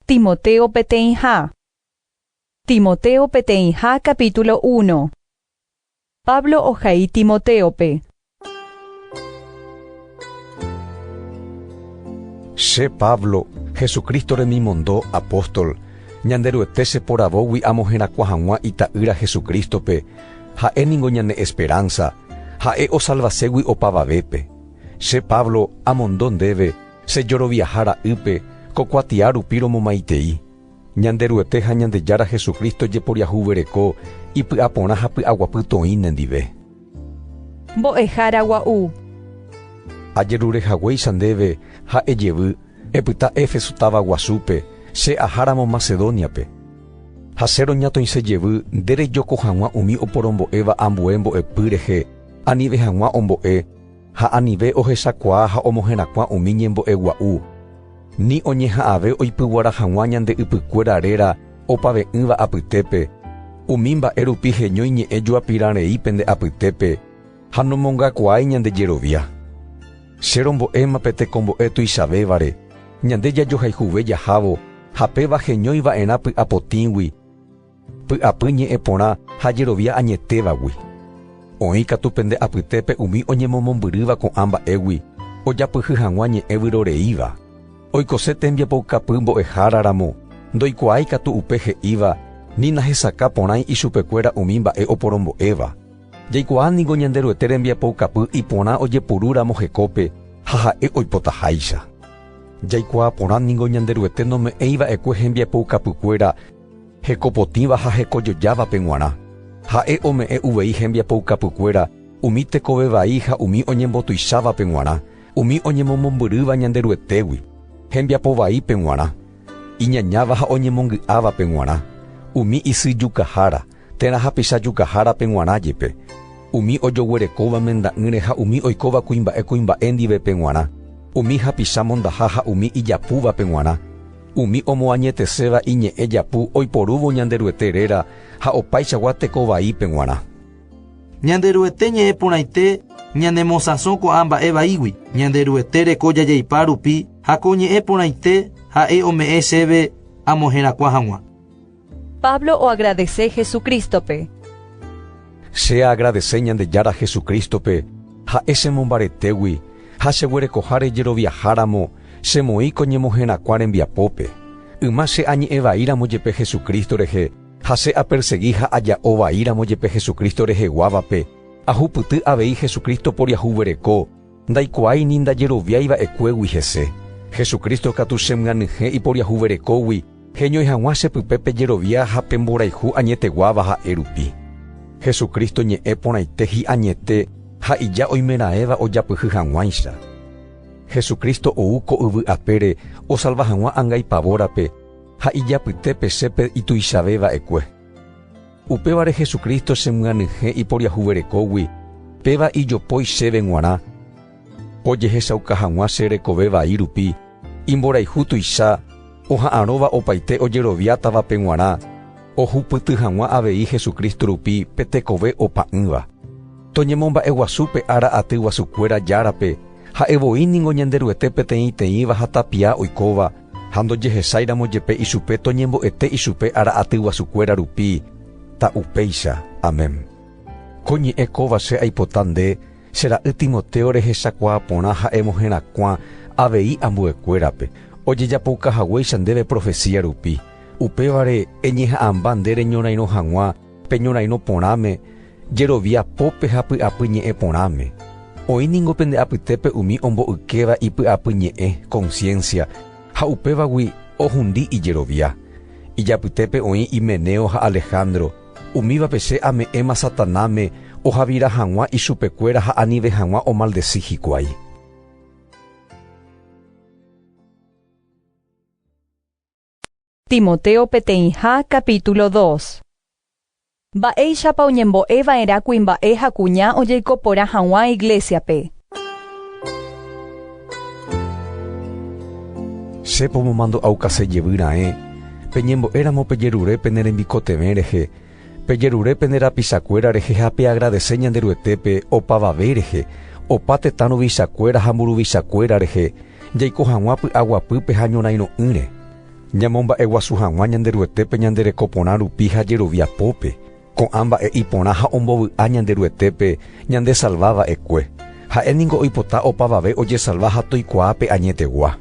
Timoteo peteĩha Timoteo peteĩha capítulo uno Pablo ohai Timotéope. Che Pablo, Jesucristo remimonndo apóstol, Ñanderuete che poravógui amo herakuã hag̃ua Ita'ýra Jesucristo-pe, Ha'e ningo ñane esperanza, Ha'e osalvaségui opavavépe. Che Pablo, amondo ndéve, Che joroviaha ra'ýpe, ko kuatia rupi romomaitei. Ñanderuete ha Ñandejára Jesucristo jeporiahuvereko ipy'aporã ha py'aguapy toĩ nendive. Mbo'ehára gua'u. Ajerure haguéicha ndéve ha ejevy, epyta Éfeso táva guasúpe, che aháramo Macedóniape. Ha che roñatoĩse jevy nde rejoko hag̃ua umi oporombo'éva ambue mbo'epy rehe, anive hag̃ua ombo'e, ha anive ohechakuaa ha omoherakuã umi ñembo'e gua'u, ni oñeha'ãve oipyguara hag̃ua ñande ypykuéra réra opave'ỹva apytépe, umi mba'e rupi heñói ñe'ẽ juapirã rei pende apytépe ha nomongakuaái ñande jerovia. Che rombo'éma pe tekombo'e tuichavévare, ñande jajohayhuve jahávo ha péva heñói va'erã py'apotĩgui, Py'apy ñe'ẽ porã ha jerovia añetévagui. Oĩ katu pende apytépe umi oñemomombyrýva ko'ã mba'égui ojapyhy hag̃ua ñe'ẽ vyroreíva. Oikose tembiapoukapy mbo'ehára ramo, ndoikuaái katu upe he'íva ni nahesakã porãi ichupekuéra umi mba'e oporombo'éva. Jaikuaa ningo Ñanderuete rembiapoukapy iporã ojepuru ramo hekópe ha ha'e oipotaháicha. Jaikuaa porã ningo Ñanderuete nome'ẽi va'ekue hembiapoukapykuéra Hekopotĩva ha hekojojávape g̃uarã, ha'e ome'ẽ uvei hembiapoukapykuéra umi tekove vai ha umi oñembotuichávape g̃uarã, umi oñemomombyrýva Ñanderuetégui, hembiapo vaípe g̃uarã, iñañáva ha oñemongy'ávape g̃uarã, umi isyjukahára, Térã hapicha jukahárape g̃uarã jepe, umi ojoguerekóva menda'ỹre ha umi oikóva kuimba'e kuimba'e ndivepe g̃uarã, umi hapicha mondaha ha umi ijapúvape g̃uarã, umi omoañeteséva iñe'ẽ japu oiporúvo Ñanderuete réra ha opaichagua teko vaípe g̃uarã. Ñanderuete ñe'ẽ porãite ñanemosãso ko'ã mba'e vaígui. Ñanderuete reko jajaipa rupi ha ko ñe'ẽ porãite ha'e ome'ẽ chéve amoherakuã hag̃ua. Pablo oagradese Jesucrístope. Che agradese Ñandejára Jesucrístope, ha'e che mombaretégui ha che guerekoháre jeroviaháramo che moĩ ko ñemoherakuã rembiapópe. Yma che añe'ẽ vaíramo jepe Jesucristo rehe ha che apersegi ha aja'o vaíramo jepe Jesucristo reheguávape, ahupyty avei Jesucristo poriahuvereko, Ndaikuaái ni ndajeroviái va'ekuégui hese. Jesucristo katu che myanyhẽ iporiahuverekógui, heñói hag̃ua che pype pe jerovia ha pe mborayhu añeteguáva ha'e rupi. Jesucristo ñe'ẽ porãite hi'añete ha ija oimeraẽva ojapyhy hag̃uáicha. Jesucristo ou ko yvy apére osalva hag̃ua anga ipavórape ha ijapytépe che pe ituichave va'ekue. Upévare Jesucristo chemyanyhẽ iporiahuverekógui, péva ijopói chéve g̃uarã, ojehechauka hag̃ua che rekove vai rupi, imborayhu tuicha, oha'arõva opaite ojeroviátavape g̃uarã, ohupyty hag̃ua avei Jesucristo rupi pe tekove opa'ỹva. Toñemomba'eguasu pe ára aty guasukuéra Járape, ha'e voi ningo Ñanderuete peteĩteĩva ha tapia oikóva, Ha ndojehesáiramo jepe ichupe toñembo'ete ichupe ára aty guasukuéra rupi, ta upéicha. Amén. Ko ñe'ẽ kóva che aipota nde, che ra'y Timoteo rehechakuaa porã ha emoherakuã avei ambuekuérape, ojejapouka haguéicha ndéve profesía rupi. Upévare, eñeha'ãmba nde reñorairõ hag̃ua, Pe ñorairõ porãme, jerovia pópe ha py'apy ñe'ẽ porãme. Oĩ ningo pende apytépe umi ombo'ykéva ipy'apy ñe'ẽ, conciencia, ha upévagui ohundi ijerovia. Ijapytépe oĩ Himeneo ha Alejandro, umívape che ame'ẽma Satanáme ohavira hag̃ua ichupekuéra ha anive hag̃ua omaldeci hikuái. Timoteo peteĩha capítulo dos. Mba'éichapa oñembo'e va'erã kuimba'e ha kuña ojeiko porã hag̃ua iglésiape. Che pomomandu'aukase jevy raẽ, peñembo'éramo pejerure pene rembikotevẽ rehe, Pejerure pene rapichakuéra rehe ha peagradese Ñanderuetépe opavave rehe, opa tetã ruvichakuéra ha mburuvichakuéra rehe, jaiko hag̃ua py'aguapýpe ha ñorãirõ'ỹre. Ñamomba'eguasu hag̃ua Ñanderuetépe ñande reko porã rupi ha jerovia pópe, ko'ã mba'e iporã ha ombovy'a Ñanderuetépe ñandesalva va'ekue. Ha'e ningo oipota opavave ojesalva ha toikuaa pe añetegua.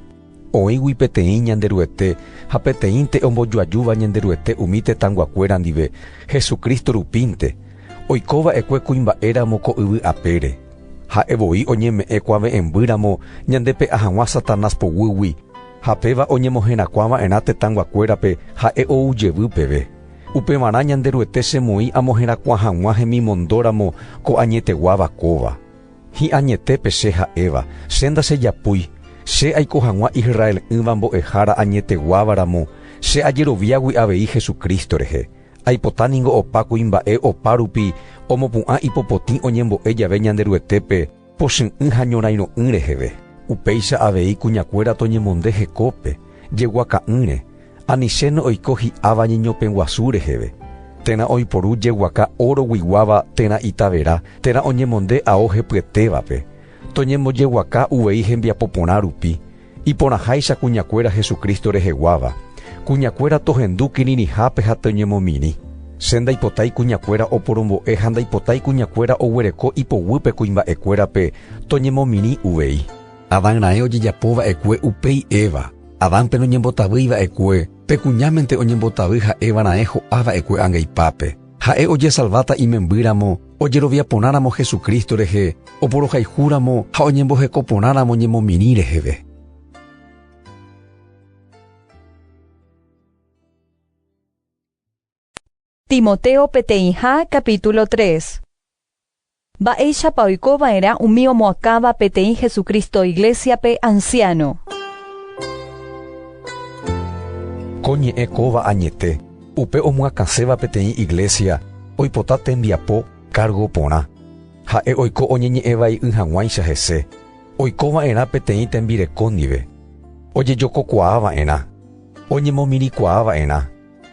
Oĩgui peteĩ Ñanderuete ha peteĩnte ombojoajúva Ñanderuete umi tetãnguakuéra ndive, Jesucristo rupínte, oiko va'ekue kuimba'éramo ko yvy apére. Ha'e voi oñeme'ẽ kuave'ẽmby ramo ñandepe'a hag̃ua Satanás poguýgui, ha péva oñemoherakuã va'erã tetãnguakuérape ha'e ou jevy peve. Upevarã Ñanderuete chemoĩ amoherakuã hag̃ua hemimondo ramo ko añeteguáva kóva. Hi'añetépe che ha'éva, che ndachejapúi, che aiko hag̃ua Israel'ỹva mbo'ehára añeteguáva ramo, che ajeroviágui avei Jesucristo rehe. Aipota ningo opa kuimba'e opa rupi omopu'ã ipopotĩ oñembo'e jave Ñanderuetépe pochy'ỹ ha ñorãirõ'ỹ reheve. Upéicha avei kuñakuéra toñemonde hekópe, jeguaka'ỹre, Aniceno oiko hi'áva ñeñopeguasu reheve, térã oiporu jeguaka óro guiguáva térã itavera, térã oñemonde ao hepyetévape, toñembojeguaka uvei hembiapo porã rupi, iporãháicha kuñakuéra Jesucristo reheguáva, kuñakuéra tohendu kirirĩhápe ha toñemomirĩ. Che ndaipotái kuñakuéra oporombo'e ha ndaipotái kuñakuéra oguereko ipoguýpe kuimba'ekuérape, toñemomirĩ uvei. Adán raẽ ojejapo va'ekue upéi Eva. Adánpe noñembotavýi va'ekue, pe kuñámente oñembotavy ha'éva raẽ ho'a va'ekue angaipápe. Ha'e ojesalváta imembýramo, ojerovia porãramo Jesucristo rehe, oporohayhúramo ha oñemboheko porãramo ñemomirĩ reheve. Timoteo peteĩha capítulo tres. Mba'éichapa oiko va'erã umi omoakãva peteĩ Jesucristo Iglésiape anciáno? Ko ñe'ẽ kóva añete, upe omoakãséva peteĩ Iglésia oipota tembiapo kárgo porã. Ha'e oiko oñeñe'ẽvai'y hag̃uáicha hese, oiko va'erã peteĩ tembireko ndive, ojejokokuaa va'erã, oñemomirĩkuaa va'erã,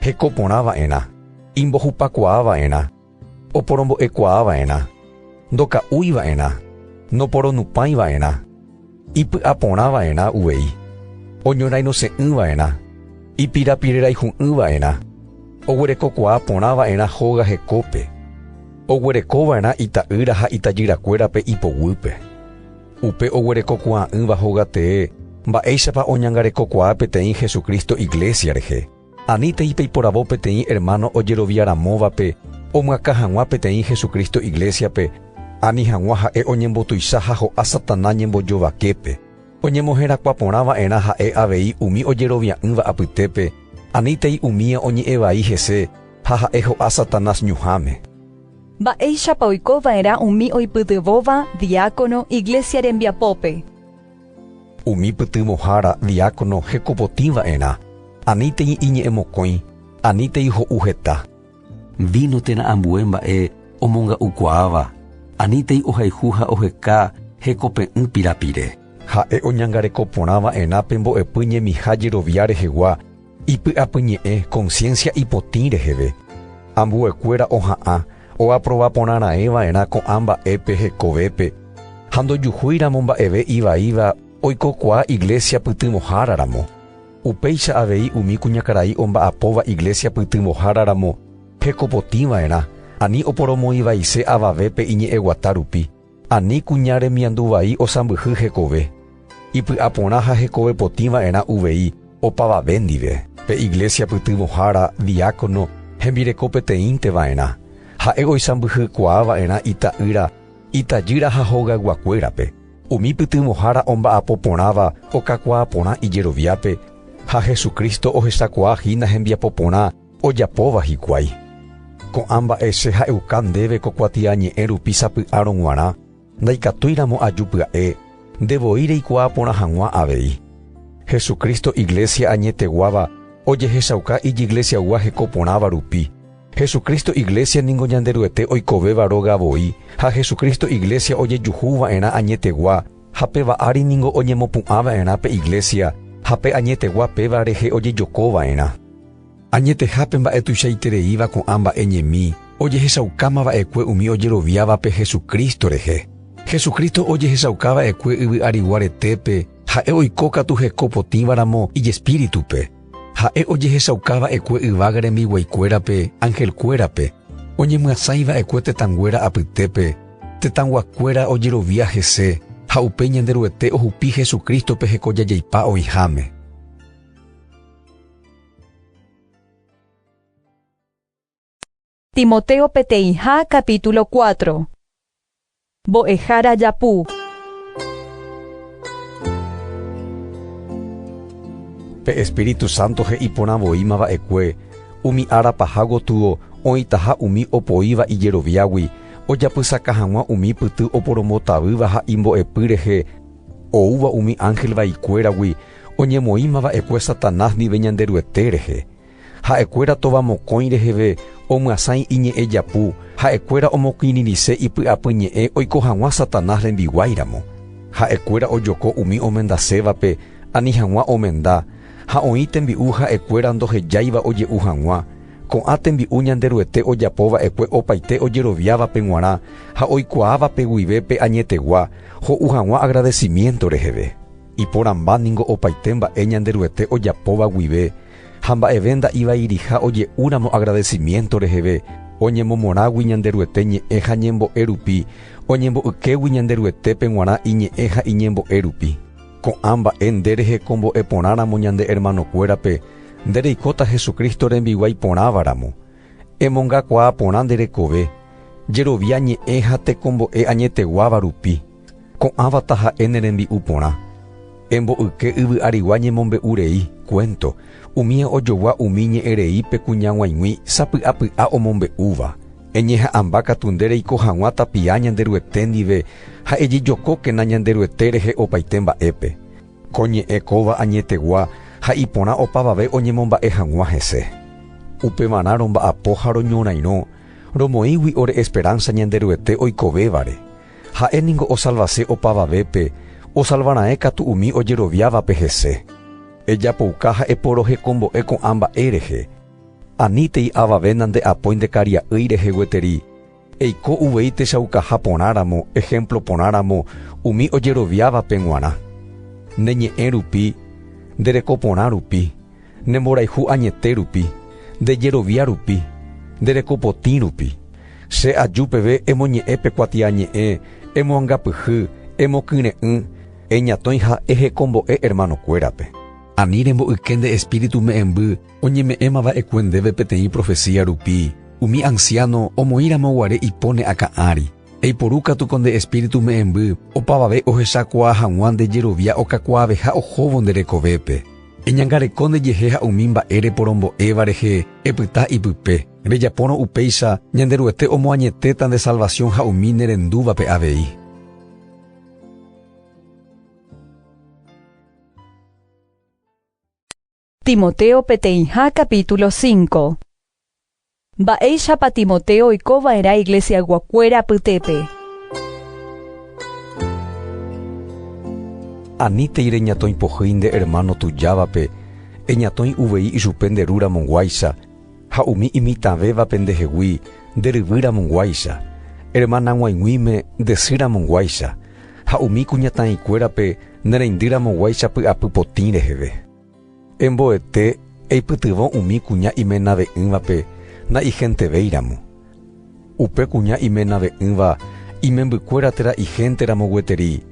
heko porã va'erã, imbohupakuaa va'erã, oporombo'ekuaa va'erã, ndoka'úi va'erã, noporonupãi va'erã, ipy'aporã va'erã uvei, oñorairõse'ỹ va'erã, ipirapireraihu'ỹ va'erã, oguerekokuaa porã va'erã hóga hekópe, oguereko va'erã ita'ýra ha itajyrakuérape ipoguýpe. upe oguerekokuaa'ỹva hogatee mba'éichapa oñangarekokuaa peteĩ Jesucristo iglésia rehe. Anítei peiporavo peteĩ ermáno ojeroviaramóvape omyakã hag̃ua peteĩ Jesucristo iglésiape, ani hag̃ua ha'e oñembotuicha ha ho'a Satanás ñembojovaképe. Oñemoherakuã porã va'erã ha'e avei umi ojerovia'ỹva apytépe, anítei umía oñe'ẽ vai hese ha ha'e ho'a Satanás ñuhãme. Mba'éichapa oiko va'erã umi oipytyvõva diákono iglésia rembiapópe? Umi pytyvõhára diákono hekopotĩ va'erã, anítei iñe'ẽmokõi, anítei ho'u heta. Víno térã ambue mba'e omonga'ukuaáva, anítei ohayhu ha oheka hekope'ỹ pirapire. Ha'e oñangareko porã va'erã pe mbo'epy ñemiha jerovia rehegua, Ipy'apyñe'ẽ conciencia ipotĩ reheve, ambuekuéra oha'ã oaprova porã raẽ va'erã ko'ã mba'épe hekovépe ha ndojuhúiramo mba'eve ivaíva oikokuaa iglesia pytyvõhára ramo. Upéicha avei umi kuñakarai omba'apóva iglesia pytyvõhára ramo hekopotĩ va'erã ani oporomoĩvaise avavépe iñe'ẽguata rupi. Ani kuña remiandu vai osãmbyhy hekove, ipy'aporã ha hekove potĩ va'erã uvei opavave ndive. Pe iglésia pytyvõhára diákono hembireko peteĩnte va'erã, ha'e oisãmbyhykuaa va'erã ita'ýra, itajýra ha hogayguakuérape. Umi pytyvõhára omba'apo porãva okakuaa porã ijeroviápe, ha Jesucristo ohechakuaa hína hembiapo porã, Ojapóva hikuái. Ko'ã mba'e che ha'euka ndéve ko kuatiañe'ẽ rupi sapy'árõ g̃uarã, ndaikatúiramo aju pya'e, nde voi reikuaa porã hag̃ua avei. Jesucristo iglesia añeteguáva ojehechauka ijiglesiagua heko porãva rupi. Jesucristo iglesia ningo Ñanderuete oikovéva róga voi ha Jesucristo iglesia ojejuhu va'erã añetegua ha pe va'ári ningo oñemopu'ã va'erã pe iglesia ha pe añetegua péva rehe ojejoko va'erã. Añeteha pe mba'e tuichaitereíva ko'ã mba'e ñemi, ojehechaukáma va'ekue umi ojeroviávape Jesucristo rehe. Jesucristo ojehechauka va'ekue yvy arigua retépe, ha'e oiko katu heko potĩva ramo ijespíritu-pe. Ha'e ojehechauka va'ekue yvága rembiguaikuérape, angelkuérape, oñemyasãi va'ekue tetãnguéra apytépe, tetãguakuéra ojerovia hese, ha upéi Ñanderuete ohupi Jesucristo-pe heko jajeipa oĩháme. Timoteo peteĩha capítulo 4 Mbo'ehára japu Pe Espíritu Santo he'i porã voíma va'ekue, umi ára paha gotyo oĩtaha umi opoíva ijeroviágui, ojapysaka hag̃ua umi pyty oporombotavýva ha imbo'epy rehe oúva umi ángel vaikuéragui, Oñemoĩma va'ekue Satanás ndive Ñanderuete rehe. Ha'ekuéra tova mokõi reheve omyasãi iñe'ẽ japu, ha'ekuéra omokirirĩse ipy'apy ñe'ẽ oiko hag̃ua Satanás rembiguái ramo. Ha'ekuéra ojoko umi omendasévape ani hag̃ua omenda, ha oĩ tembi'u ha'ekuéra ndohejáiva oje'u hag̃ua. Ko'ã tembi'u Ñanderuete ojapo va'ekue opaite ojeroviávape g̃uarã ha oikuaávape guive pe añetegua ho'u hag̃ua agradecimiento reheve. Iporãmba ningo opaite mba'e Ñanderuete ojapóva guive ha mba'eve nda'ivairiha oje'úramo agradecimiento reheve, oñemomorãgui Ñanderuete ñe'ẽ ha ñembo'e rupi, oñembo'ykégui Ñanderuetépe g̃uarã iñe'ẽ ha iñembo'e rupi. Ko'ã mba'e nde rehekombo'e porãramo ñande hermanokuérape, nde reikóta Jesucristo rembiguái porãva ramo. Emongakuaa porã nde rekove, jerovia ñe'ẽ ha tekombo'e añeteguáva rupi. Ko'ãva taha'e ne rembi'u porã. Emboyke yvy arigua ñemombe'u rei, cuento, umi ojogua umi ñe'ẽ rei pe kuñaguãigui sapy'apy'a omombe'úva. Eñeha'ãmba katu nde reiko haguã tapia Ñanderuete ndive ha ejejokókena Ñanderuete rehe opaite mba'épe. Ko ñe'ẽ kóva añetegua ha iporã opavave oñemomba'e haguã hese. Upevarã romba'apo ha roñorairõ, romoĩgui ore esperanza Ñanderuete oikovévare. Ha'e ningo osalvase opavavépe, osalva raẽ katu umi ojeroviávape hese. Ejapouka ha eporohekombo'e ko'ã mba'e rehe. Anítei avave nande'apói ndekaria'ỹi rehe gueteri, eiko uvei techaukaha porãramo, ehémplo porãramo, umi ojeroviávape g̃uarã. Nde ñe'ẽ rupi, nde reko porã rupi, Ne mborayhu añete rupi, nde jerovia rupi, nde reko potĩ rupi. Che aju peve emoñe'ẽ pe kuatiañe'ẽ, emoangapyhy, emokyre'ỹ, eñatõi ha ehekombo'e hermano kuérape. Ani rembo'yke nde Espíritu me'ẽmby oñeme'ẽma va'ekue ndéve peteĩ profesía rupi, umi anciano omoĩ ramo guare ipóne akã ári. Eiporu katu ko nde Espíritu me'ẽmby opavave ohechakuaa hag̃ua nde jerovia okakuaaveha ohóvo nde rekovépe. Eñangareko nde jehe ha umi mba'e reporombo'éva rehe epyta ipype, rejapórõ upéicha Ñanderuete omoañetéta nde salvación ha umi ne rendúvape avei. Timoteo peteĩha capítulo cinco Mba'éichapa Timoteo oiko va'erã iglesiaguakuéra apytépe? Anítei reñatõi pohýi nde ermáno tujávape, eñatõi uvei ichupe nde ru ramonguáicha, ha umi imitãvévape ndehegui, nde ryvy ramonguáicha, ermanag̃uaig̃uíme nde sy ramonguáicha, ha umi kuñataĩkuérape ne reindy ramoguáicha py'apy potĩ reheve. Emboete eipytyvõ umi kuña imenave'ỹvape nda'ihentevéiramo. Upe kuña imenave'ỹva imembykuéra térã ihénteramo gueteri.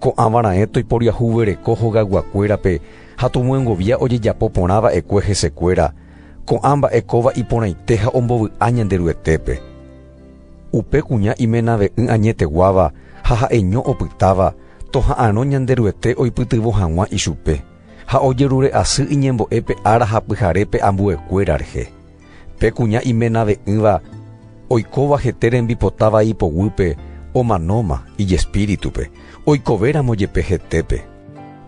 Ko'ãva raẽ toiporiahuvereko hogayguakuérape ha tomyengovia ojejapo porã va'ekue hesekuéra, ko'ã mba'e kóva iporãite ha ombovy'a Ñanderuetépe. Upe kuña imenave'ỹ añeteguáva ha ha'eño opytáva, toha'arõ Ñanderuete oipytyvõ hag̃ua ichupe, ha ojerure asy iñembo'épe ára ha pyharépe ambuekuéra rehe. Pe kuña imenave'ỹva oikóva hete rembipota vai poguýpe omanóma ijespíritupe, oikovéramo jepe hetépe.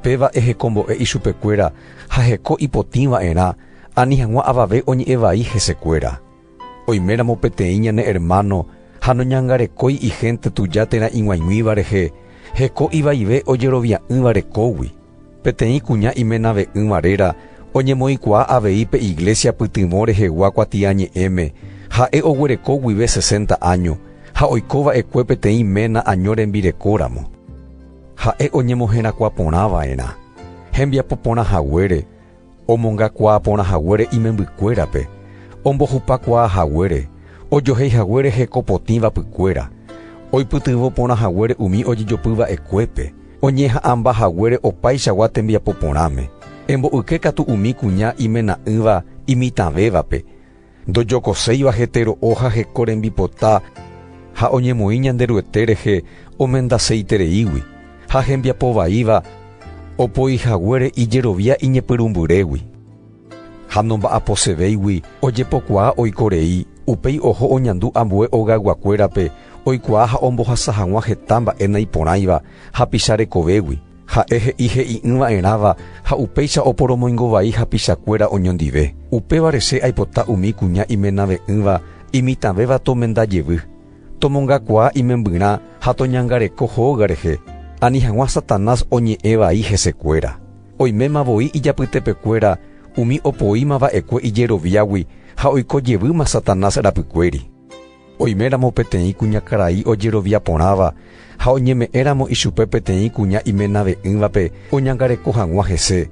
Péva ehekombo'e ichupekuéra ha heko ipotĩva'erã ani hag̃ua avave oñe'ẽ vai hesekuéra. Oiméramo peteĩ ñane ermáno ha noñangarekói ihénte tuja térã ig̃uaig̃uíva rehe, heko ivaive ojerovia'ỹva rekógui. Peteĩ kuña imenave'ỹva réra oñemoĩkuaa avei pe iglésia pytyvõ rehegua kuatiañe'ẽme, ha'e oguereko guive sesenta áño ha oiko va'ekue peteĩ ména año rembirekóramo. Ha'e oñemoherakuã porã va'erã hembiapo porã haguére, omongakuaa porã haguére imembykuérape, ombohupakuaa haguére, ojohéi haguére heko potĩ vapykuéra, oipytyvõ porã haguére umi ojejopy va'ekuépe, oñeha'ãmba haguére opaichagua tembiapo porãme, embo'yke katu umi kuña imena'ỹva imitãvévape, ndojokoséiva hetero'o ha heko rembipota ha oñemoĩ Ñanderuete rehe omendaseitereígui ha hembiapo vaíva opoihaguére ijerovia iñepyrũmbyrégui ha nomba'aposevéigui ojepokuaa oiko rei upéi oho oñandu ambue ogayguakuérape oikuaa ha ombohasa hag̃ua heta mba'e naiporãiva hapicha rekovégui Ha'e he'i he'i'ỹva'erãva ha upéicha oporomoingo vai hapichakuéra oñondive. Upévare che aipota umi kuña imenave'ỹva imitãvéva tomenda jevy, tomongakuaa imembyrã ha toñangareko hóga rehe, ani hag̃ua Satanás oñe'ẽ vai hesekuéra. Oiméma voi ijapytepekuéra umi opoíma va'ekue ijeroviágui ha oiko jevýma Satanás rapykuéri. Oiméramo peteĩ kuñakarai ojerovia porãva ha oñeme'ẽramo ichupe peteĩ kuña imenave'ỹvape oñangareko hag̃ua hese,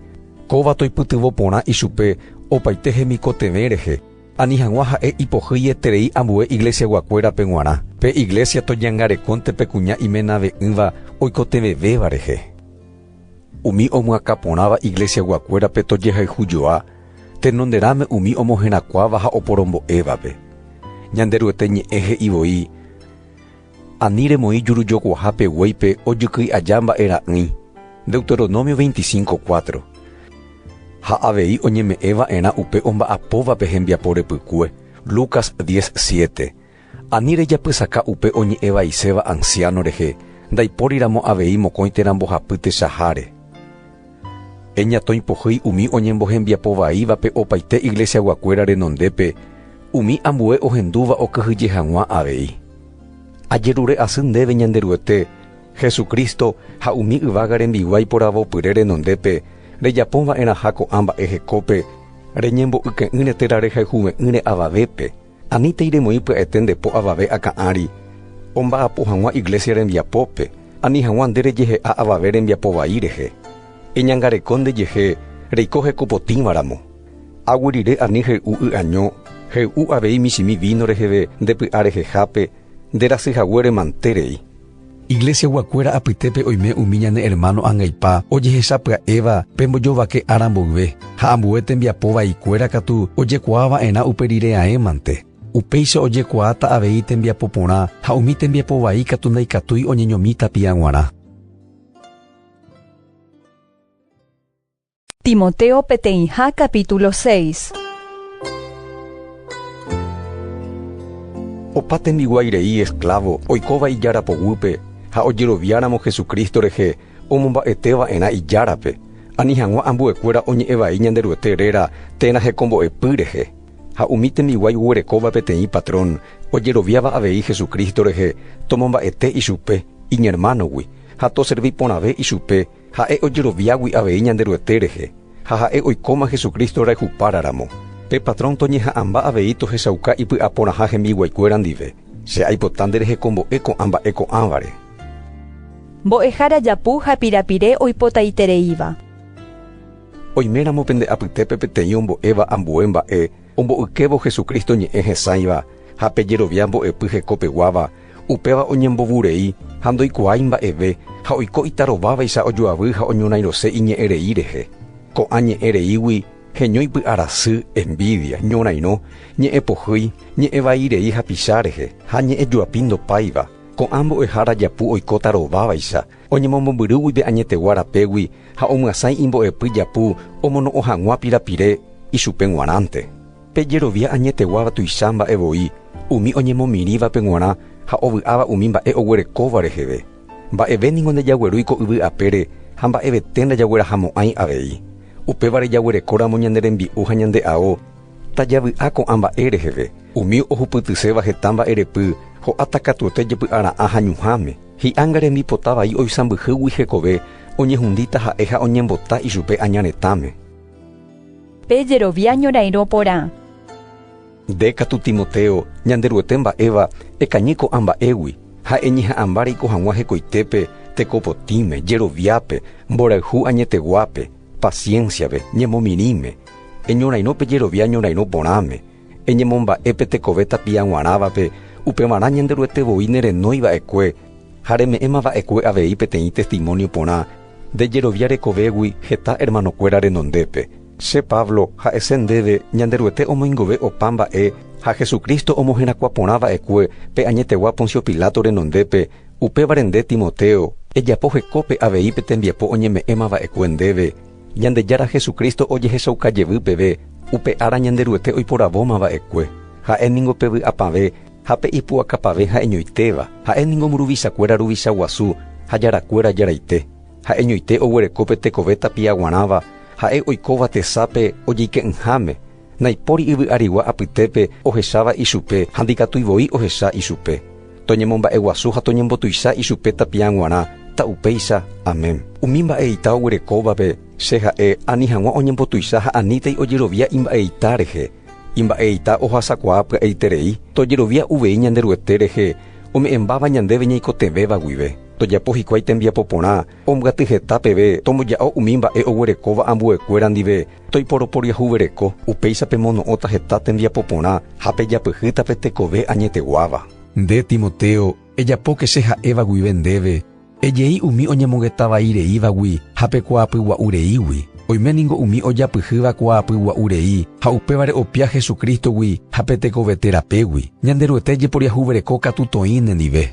kóva toipytyvõ porã ichupe opaite hemikotevẽ rehe, ani hag̃ua ha'e ipohýi eterei ambue iglesiaguakuérape g̃uarã. Pe iglésia toñangarekónte pe kuña imenave'ỹva oikotevẽvéva rehe. Umi omyakã porãva iglesiaguakuérape tojehayhu joa tenonderãme umi omoherakuãva ha oporombo'évape. Ñanderuete ñe'ẽ he'i voi, Ani remoĩ jurujokuaha pe guéipe ojykýi aja mba'e ra'ỹi, Deuteronomio 25, 4. Ha avei oñeme'ẽva'erã upe omba'apóvape hembiapo repykue, Lucas 10, 7. Ani rejapysaka upe oñe'ẽ vaiséva ansiáno rehe, ndaipóriramo avei mokõi térã mbohapytechaháre. Eñatõipohýi umi oñembohembiapo vaívape opaite iglesiaguakuéra renondépe, umi ambue ohendúva okyhyje hag̃ua avei. Ajerure asy ndéve Ñanderuete, Jesucristo ha umi yvága rembiguái poravopyre renondépe, rejapõ va'erãha ko'ã mba'e hekópe, reñembo'yke'ỹre térã rehayhuve'ỹre avavépe, Anítei remoĩ pya'ete nde po avave akã ári omba'apo hag̃ua iglésia rembiapópe, ani hag̃ua nde rejehe'a avave rembiapo vai rehe. Eñangareko ndejehe reiko hekopotĩvaramo. Aguyryre ani hey'u y'año, hey'u avei michĩmi víno reheve nde py'a rehehápe, nde rasy hague remante rei. Iglesiaguakuéra apytépe oime umi ñane ermáno angaipa ojehechapya'éva pe mbojovake ára mboyve, ha ambue tembiapo vaikuéra katu ojekuaa va'erã upe rire aẽmante. Upéicha ojekuaáta avei tembiapo porã ha umi tembiapo vai katu ndaikatúi oñeñomi tapia g̃uarã. Timoteo peteĩha capítulo seis. Opa tembiguái rei esclavo oikóva ijára poguýpe ha ojeroviáramo Jesucristo rehe omomba'eteva'erã ijárape, ani hag̃ua ambuekuéra oñe'ẽ vai Ñanderuete réra térã hekombo'epy rehe. Ha umi tembiguái oguerekóva peteĩ patrón ojeroviáva avei Jesucristo rehe, tomomba'ete ichupe iñermánogui ha toservi porãve ichupe, Ha'e ojeroviágui avei Ñanderuete rehe, ha ha'e oikóma Jesucristo rayhupára ramo. Pe patrón toñeha'ãmba avei tohechauka ipy'aporãha hembiguaikuéra ndive. Che aipota nderehekombo'e ko'ã mba'e ko'ãvare. Mbo'ehára japu ha pirapire oipotaitereíva. Oiméramo pende apytépe peteĩ ombo'éva ambue mba'e, Omboykévo Jesucristo ñe'ẽ hesãiva ha pejerovia mbo'epy hekopeguáva, upéva oñembovu rei ha ndoikuaái mba'eve ha oiko itarovávaicha ojoavy ha oñorairõse iñe'ẽ rei rehe. Ko'ã ñe'ẽ reígui heño ipy'arasy, envidia, ñorairõ, ñe'ẽ pohýi, ñe'ẽ vai rei hapicha rehe ha ñe'ẽ joapi ndopáiva. Ko'ã mbo'ehára japu oikóta rovávaicha Oñemombyrýgui pe añetegua rapégui ha omyasãi imbo'epy japu omono'õ hag̃ua pirapire ichupe g̃uarãnte. Pe jerovia añeteguáva tuicha mba'e voi umi oñemomirĩvape g̃uarã ha ovy'áva umi mba'e oguerekóva reheve. Mba'eve ningo ndajaguerúi ko yvy apére ha mba'evete ndajaguerahamo'ãi avei. Upévare jaguerekóramo ñane rembi'u ha ñande ao, Tajavy'a ko'ã mba'e reheve, umi ohupytyséva heta mba'erepy, ho'áta katuete jepy'ara'ã ha ñuhãme. Hi'a ngarembipota vai oisãmbyhýgui hekove, oñehundíta ha'e ha oñembota ichupe aña retãme. Pe jerovia ñorairõ porã. Nde katu Timoteo, Ñanderuete mba'éva, ekañy ko'ã mba'égui, ha eñeha'ãmba reiko hag̃ua hekoitépe, teko potĩme, jeroviápe, mborayhu añeteguápe, paciencia-pe, ñemomirĩme, Eñorairõ pe jerovia ñorairõ porãme, eñemomba'e pe tekove tapia g̃uarãvape, upevarã Ñanderuete voi ne renói va'ekue ha reme'ẽma va'ekue avei peteĩ testimónio porã nde jerovia rekovégui heta ermanokuéra renondépe. Che Pablo, ha'ese ndéve Ñanderuete omoingove opa mba'e ha Jesucristo omoherakuã porã va'ekue pe añetegua Poncio Pilato renondépe, upévare nde Timoteo, ejapo hekópe avei pe tembiapo oñeme'ẽma va'ekue ndéve, Ñandejára Jesucristo ojehechauka jevy peve, upe ára Ñanderuete oiporavóma va'ekue. Ha'e ningo pe vy'apavẽ ha pe ipu'akapavẽ ha'eñoitéva, ha'e ningo mburuvichakuéra ruvicha guasu ha jarakuéra jaraite. Ha'eñoite oguereko pe tekove tapia guarãva, ha'e oikóva tesape ojeike'ỹháme, naipóri yvy'arigua apytépe ohecháva ichupe ha ndikatúi voi ohecha ichupe. Toñemomba'eguasu ha toñembotuicha ichupe tapiã g̃uarã, ta upéicha. Amén. Umi mba'eita oguerekóvape, che ha'e, ani hag̃ua oñembotuicha ha anítei ojerovia imba'eita rehe. Imba'eita ohasakuaa pya'eiterei, tojerovia uvei Ñanderuete rehe, ome'ẽmbáva ñandéve ñaikotevẽva guive. Tojapo hikuái tembiapo porã, ombyaty heta peve, tomboja'o umi mba'e oguerekóva ambuekuéra ndive, Toiporoporiahuvereko, upéicha pemono'õta heta tembiapo porã ha pejapyhýta pe tekove añeteguáva. Nde, Timoteo, ejapóke che ha'éva guive ndéve, ejei umi oñemongeta vai reívagui ha pe kuaapy gua'u reígui. Oime ningo umi ojapyhýva kuaapy gua'u rei ha upévare opia Jesucristo-gui ha pe tekove téra pégui. Ñanderuete ejeporiahuvereko katu toĩ nendive.